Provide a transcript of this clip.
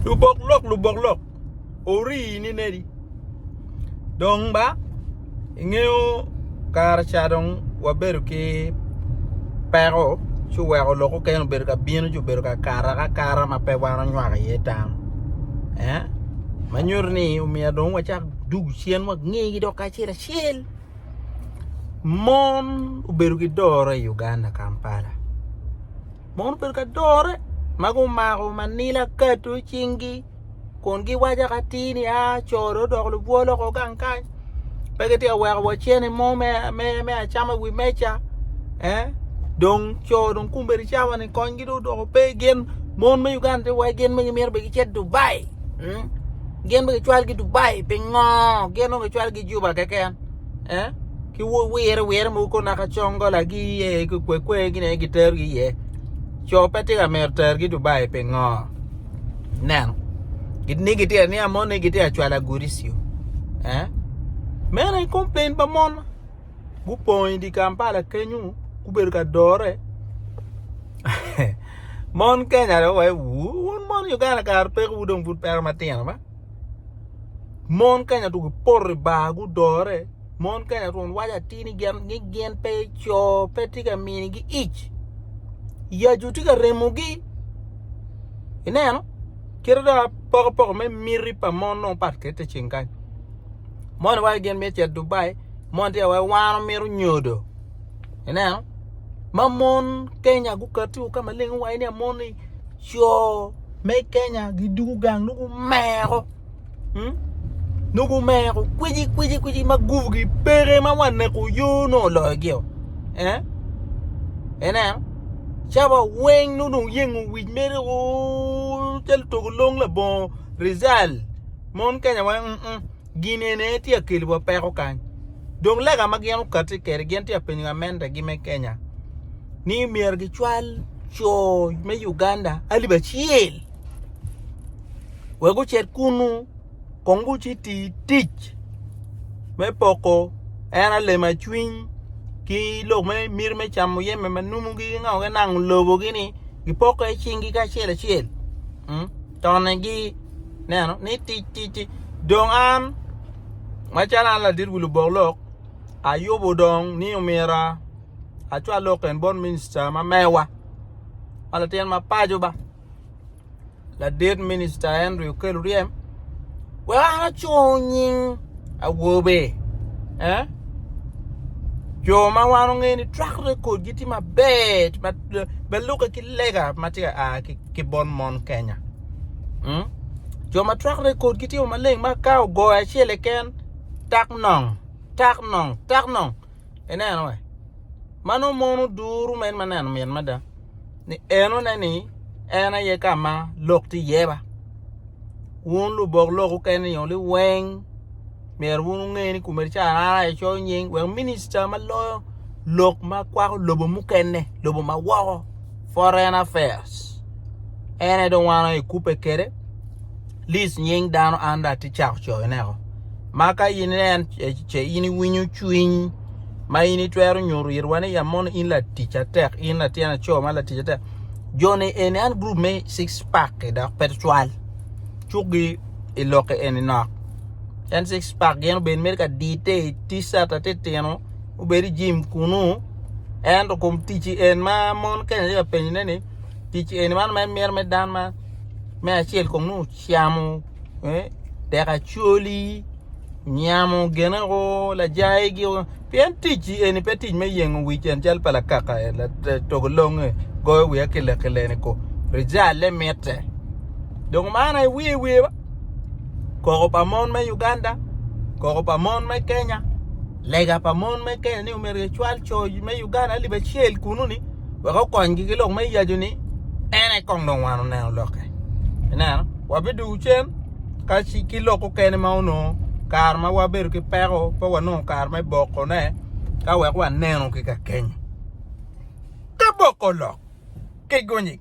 Lubok lok lubok lok orii ni nedi dong ba ingeyo kare ca dong wabedo ki peko ci oweko lok mukene obedo ka bino ci obedo ka kato akata ma pe wan wanywako iye tam eh ma nyuto ni omyero dong wacak dugu cen wa ngegi dong kacel acel mon obedo ki doro i Uganda Kampala. Mon obedo ka dore ma gumako manila kado i cingi kun giwaco ka atir ni aa co dong odoko lubwo loko gang kany pe kitye ka weko wa cene mo me acama i wi meja dong co dong kumbe licawa ni konygi dong odoko pe gin mon me Uganda dong waci gin bene gimito bene gicit Dubai gin bene gicwalogi Dubai pingo gin nongo gicwalogi juba keken. eh? ki wire wire mogo ko naka congo lagi iye ki kwe kwe gine gitergi iye co pe tye ka mito tergi dubai pingo neno ni gitye ni amon ni gitye acwala gudi siu eh meno en complain pa mon gupong idi kampala kenyu gubedo ka dore mon kenya dong waye wu wun mon uganda kara peko wu dong pud peko matino ba Mon kanya dong gipoto i bar gudore mon kanya twon waco atir ni gin pe co pe tye ka minigi ic yacu tye ka remogi ineno kit ma apokopoko me miti pa mon nongo pat kwede ite ceng kany moni waco gin mito cito Dubai moni tye ka waco wan wamito nyodo ineno ma mon kenya gukati wa ka maleng waco ni amon-ni co me kenya gidungu gang nongo gumeko hmm? nongo gumeko kwiji kwiji kwiji ma gubugi peke ma waneko yo nongo oloyogio eh? ineno ca wa weng nongo dong yengo wic mere o calo togo long labongo rizal mon kenya weng mm, mm. gin eni aye tye ka keliwa peko kany. Dong lega ma gin okati kede gin tye ka penyo gamente gi me Kenya ni myero gi cwal co me Uganda alip acel wek gucit kunu kong guci ti tic me poko en aye lema cwiny ki lok me miti me camo jami ma nunu gi nango lobo gi ni gi poko aye cing gi kacel acel. Tonnegi, neno, ni tic, tic, tic. Dong an, macalo an ladit wi lubok lok, ayubo dong ni omyero acwa lok en bot minista ma mewa, ma latin ma paco ba, ladit minista Henry Okello Oryem. Wek an acung nying awobe, eh? Jo ma wan ongeyo ni track recordgi tye maber, balukke ki lega ma tye ka a ki bot mon Kenya. Mm? Jo ma track recordgi tye maleng ma ka ogoyo acel eken, tak nong, tak nong, tak nong. Ineno wa. Ma nongo mon oduru ma en ma neno mit mada. Ni enone ni en aye ka ma lok ti yeba. Wun lubok lok ukene ni oli weng myero wun unge ni kume ca ara i coyo nying wek minista ma loyo lok ma kwako lobo mukene lobo ma woko foreign affairs ene dong wan aye kube kede lis nying dano an dong atye cako coyoneko ma ka in inen ce in iwinyo cwiny ma in itwero nyuto it wa ni amono in latic atek in latin aco ma latic atek joni eni an group me six pack dok pe twal cukgi i lokke eni nok en six pack gin obed mere ka dite i ticat atitino obed i jim kunu ento kom ticci en ma mon kene tye ka penyone ni ticci eni man en mito me dan ma me acel kong nongo ocamo dek acoli nyamo gine o lajayi gi o pien ticci eni pe tic me yengo wic en cal pa lakaka toko longe goyo wiya kile kile ni ko rijale mitte dong man aye wiye wiye ba koko pa mon me Uganda koko pa mon me Kenya Lega pa mon me Kenya ni omyero gicwal co me Uganda alip acel kunu-ni wek okonygi ki lok me yacu ni en aye kong dong wan oneno lokke. Ineno, wabidwogo cen ka ci ki lok okene ma onongo kare ma wabedo ki peko pe wanongo kare me bokone ka wek waneno ki kakenyo. Ka boko olok ki gunyi.